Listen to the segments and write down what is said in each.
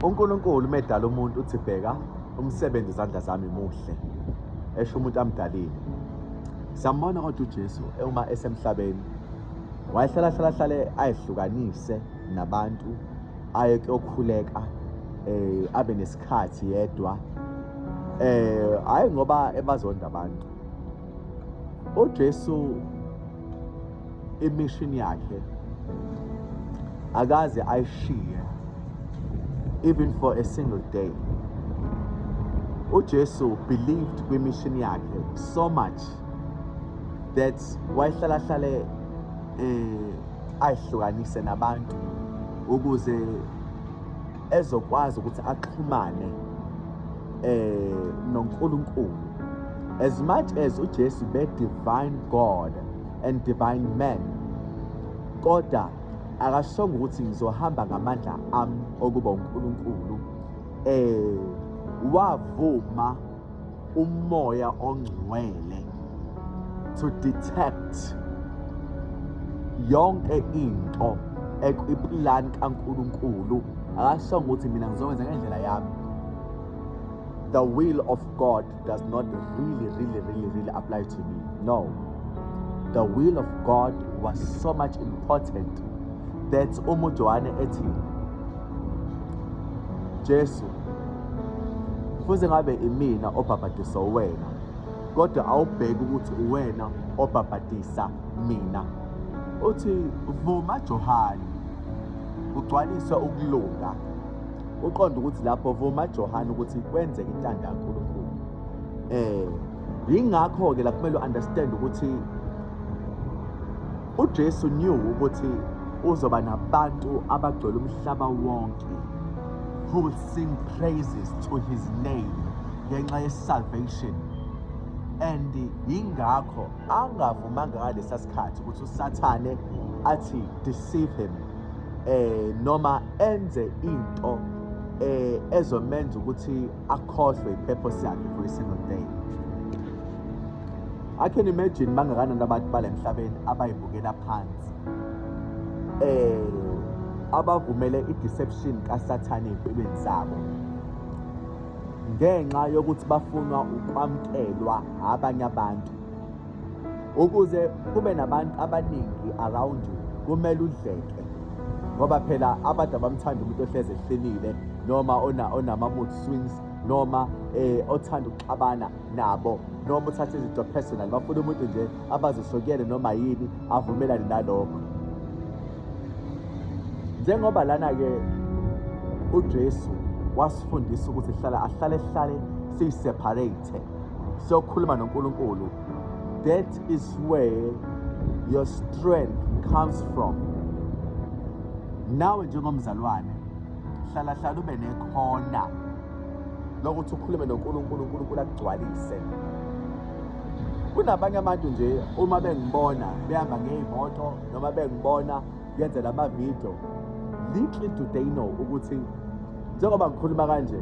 uNkulunkulu medala umuntu uthi bheka umsebenzi izandla zami muhle esho umuntu amdalile siyambona kodwa uJesu uma esemhlabeni wayehlala hlala hlale ayihlukanise nabantu aye kuyokhuleka eh abe nesikhathi yedwa eh hayi ngoba ebazonda abantu uJesu imission yakhe akaze ayishiye even for a single day uJesu believed kwi-mission yakhe so much that wayehlala hlale eh ayihlukanise nabantu ukuze ezokwazi ukuthi axhumane eh noNkulunkulu as much as uJesu be divine God and divine man kodwa akashongo ukuthi ngizohamba ngamandla ami okuba uNkulunkulu eh wavuma umoya ongcwele to detect yonke into ekwiplan kaNkulunkulu akasho ukuthi mina ngizokwenza ngendlela yami the will of God does not really really really really apply to me no the will of God was so much important that umuntu wane ethi Jesu futhi ngabe imina obhabhadisa wena kodwa awubheki ukuthi uwena obhabhadisa mina uthi vuma Johane ugcwalise ukulunga uqonda ukuthi lapho vuma Johane ukuthi kwenzeke intando kaNkulunkulu eh yingakho ke la kumele uunderstand ukuthi UJesu knew ukuthi uzoba nabantu abagcwele umhlaba wonke who will sing praises to his name ngenxa ye-salvation and yingakho angavumanga ngalesa sikhathi ukuthi usathane athi deceive him eh noma enze into eh ezomenza ukuthi akhohlwe i-purpose yakhe for a single day I can imagine bangakanani abantu balemhlabeni abayibukela phansi eh abavumele i-deception kaSathane empilweni zabo ngenxa yokuthi bafunwa ukwamkelwa abanye abantu ukuze kube nabantu abaningi around you kumele udleke ngoba phela abantu abamthanda umuntu ohleze ehlelile noma onama mood swings noma eh othanda ukuxabana nabo noma uthatha izinto personal bafuna umuntu nje abazosokele noma yini avumelane nalokho njengoba lana ke uJesu wasifundisa ukuthi hlala ahlale hlale siseparate siyokhuluma noNkulunkulu that is where your strength comes from nawe njengomzalwane hlala hlala ube nekhona lokuthi ukhulume noNkulunkulu uNkulunkulu akugcwalise kunabanye abantu nje uma bengibona behamba ngey'moto noma bengibona yenze lama video little do they know ukuthi njengoba ngikhuluma kanje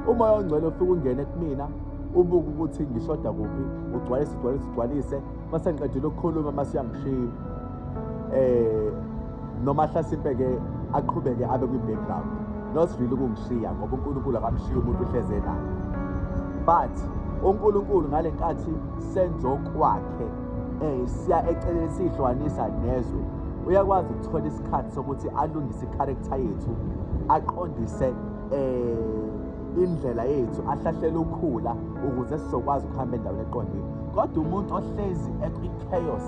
umoya ongcwele ufike ungene kumina ubuke ukuthi ngishoda kuphi ugcwalise ugcwalise ugcwalise mase ngiqedile ukukhuluma mase uyangishiya eh noma hlasimpe ke aqhubeke abe kwi background not really ukungishiya ngoba uNkulunkulu akamshiya umuntu uhleze naye but uNkulunkulu ngalenkathi senzokwakhe um siya eceleni siyihlukanisa nezwe uyakwazi ukuthola isikhathi sokuthi alungise ikharektha yethu aqondise um indlela yethu ahlahlele ukhula ukuze sizokwazi ukuhamba endaweni eqondile kodwa umuntu ohlezi ekwi-chaos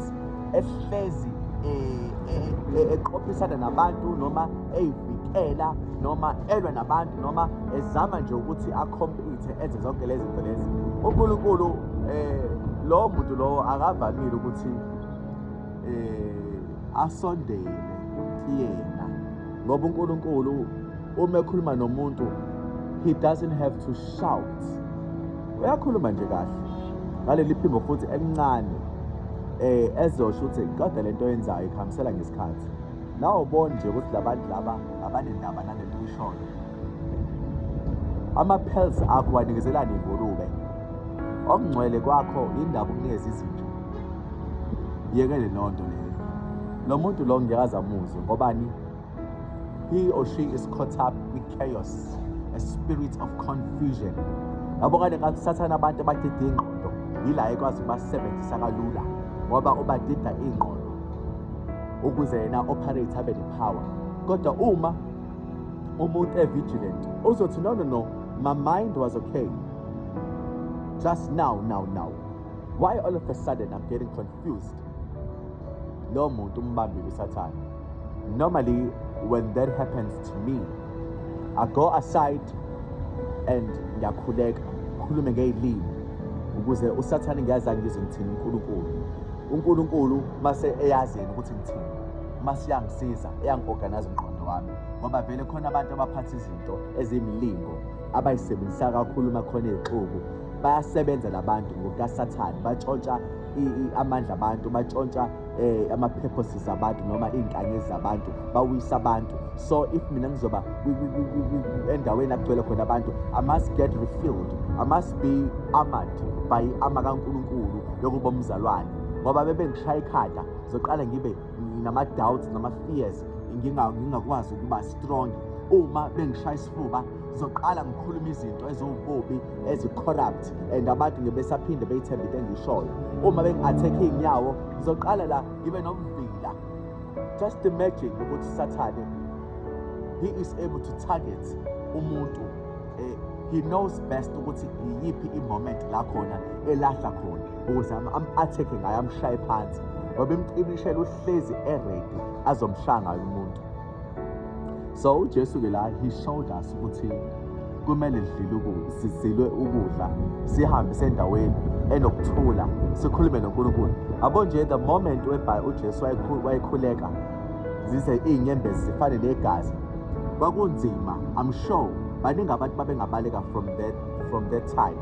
ehlezi eh, eh, eh, eqophisana nabantu noma eyivikela noma elwa nabantu noma ezama nje ukuthi akhompile enze zonke lezi zinto lezi uNkulunkulu eh lo muntu lowo akavamile ukuthi eh asondele kuyena ngoba uNkulunkulu uma ekhuluma nomuntu he doesn't have to shout uyakhuluma nje kahle ngaleli phimbo futhi elincane eh ezosho ukuthi kodwa lento yenzayo ikhambisela ngesikhathi nawo bonje ukuthi labantu laba abanendaba nalento ishoyo Ama-pearls akho wanikezela nengulube. Okungcwele kwakho yindaba ukunikeza izinja. Yekele leyo nto leyo. Lo muntu lo ngeke aze amuzwe ngobani? He or she is caught up with chaos, a spirit of confusion. Yabo kade ngathi sathana abantu abadide ingqondo yila ekwazi ukubasebenzisa kalula ngoba ubadida ingqondo ukuze yena operate abe ne-power kodwa uma umuntu evigilant uzothi no no no my mind was okay just now now now why all of a sudden i'm getting confused lo muntu umbambile usathane normally when that happens to me i go aside and ngiyakhuleka ngikhulume ngey'limi ukuze usathane ngiyazi angizwe ngithini unkulunkulu unkulunkulu mase eyazini ukuthi ngithini mase yangisiza eyangi-organize umqondo wami ngoba vele khona abantu abaphatha izinto eziyimilingo abayisebenzisa kakhulu uma khona izixuku bayasebenza labantu ngokukasathane batshontsha amandla abantu batshontsha eh ama-purposes abantu noma iy'nkanyezi zabantu bawisa abantu so if mina ngizoba endaweni akugcwele khona abantu i must get refilled i must be armored by ama kankulunkulu yokuba umzalwane ngoba bebengishaye ikhanda ngizoqala ngibe nginama-doubts nama-fears ngingakwazi ukuba strong uma bengishaya isifuba ngizoqala ngikhuluma izinto eziwububi ezi-corrupt and abantu ngebesaphinde beyithembe into engishoyo uma bengi-athekhe iy'nyawo ngizoqala la ngibe nomvila just imagine ukuthi sathane he is able to target umuntu eh, he knows best ukuthi iyiphi i-moment la khona elahla khona ukuze am-athekhe ngayo amshaye phansi ngoba imcibishela uhlezi eredi azomshaya ngayo umuntu so ujesu-ke la he showed us ukuthi kumele sizilwe ukudla sihambe sendaweni enokuthula sikhulume nonkulunkulu abo nje the moment ujesu wayekhuleka zize iy'nyembezi zifane negazi kwakunzima i'm sure baningi abantu babengabaleka from that from that time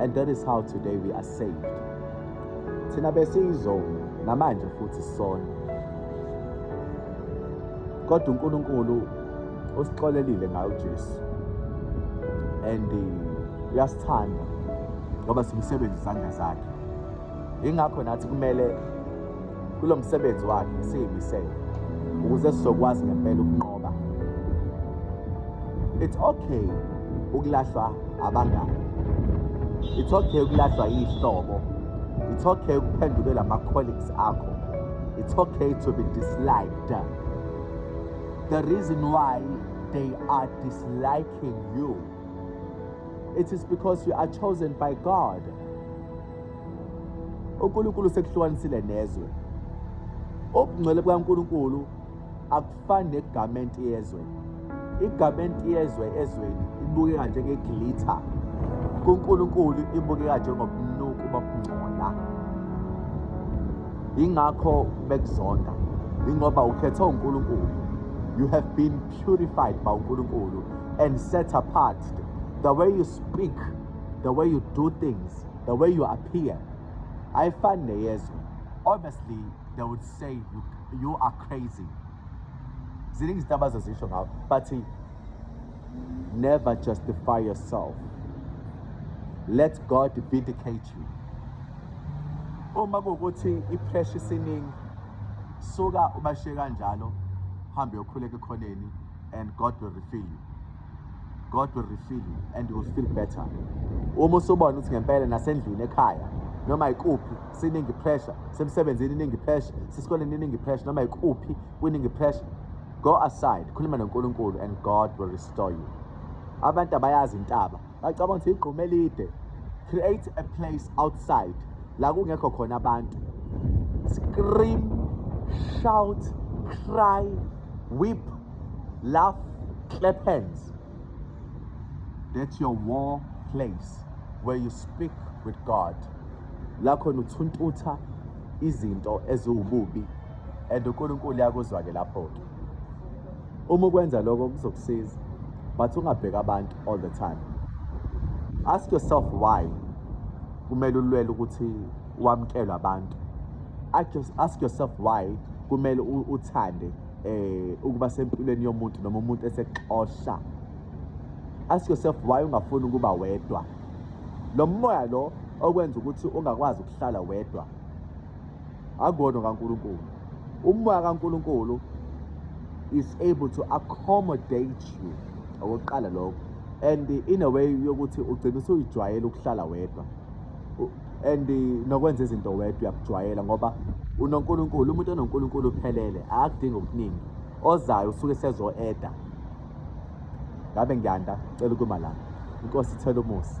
and that is how today we are saved thina besiyizona namanje futhi sisona kodwa uNkulunkulu usixolelile ngayo uJesu and uh, uyasithanda ngoba simsebenzi izandla zakhe ingakho nathi kumele kulo msebenzi wakhe esiyimisele ukuze sizokwazi ngempela ukunqoba it's okay ukulahlwa abangani it's okay ukulahlwa yihlobo it's okay ukuphendukela ama-colleagues akho it's okay to be disliked the reason why they are disliking you it is because you are chosen by god uNkulunkulu sekuhlukanisile nezwe ubungcwele bukaNkulunkulu akufani negamenti yezwe igamenti yezwe ezweni ibukeka njengegilitha kuNkulunkulu ibukeka njengobunuku bokungcola ingakho bekuzonda ingoba ukhethe uNkulunkulu you have been purified by uNkulunkulu and set apart the way you speak the way you do things the way you appear ayifani neyezwe obviously they would say you, you are crazy ziningi izinto abazozisho ngawo but never justify yourself let god vindicate you uma kuwukuthi ipressure isiningi suka ubashiye kanjalo hambe yokhuleka ekhoneni and god will refill you God will refill you and you will feel better uma usubona ukuthi ngempela nasendlini ekhaya noma ikuphi siningi pressure semsebenzini iningi pressure sisikoleni iningi pressure noma ikuphi kuningi pressure go aside khuluma noNkulunkulu and God will restore you abantu abayazi intaba bacabanga ukuthi igquma elide create a place outside la kungekho khona abantu scream shout cry weep laugh clap hands that's your war place where you speak with god la khona uthuntutha izinto eziwububi and unkulunkulu yakuzwa-ke lapho-ke uma ukwenza lokho kuzokusiza but ungabheki abantu all the time ask yourself why kumele ulwele ukuthi wamkelwe abantu ask yourself why kumele uthande eh ukuba sempilweni yomuntu noma umuntu esexosha ask yourself why ungafuni ukuba wedwa lo moya lo okwenza ukuthi ungakwazi ukuhlala wedwa akuwona kaNkuluNkulu umoya kaNkuluNkulu is able to accommodate you okokuqala lokho and in a way yokuthi ugcina usuyijwayela ukuhlala wedwa and nokwenza izinto wedwa uyakujwayela ngoba unoNkulunkulu umuntu onoNkulunkulu uphelele akudingi okuningi ozayo usuke sezo-eda ngabe ngiyanda cela ukuma la inkosi ithela umusa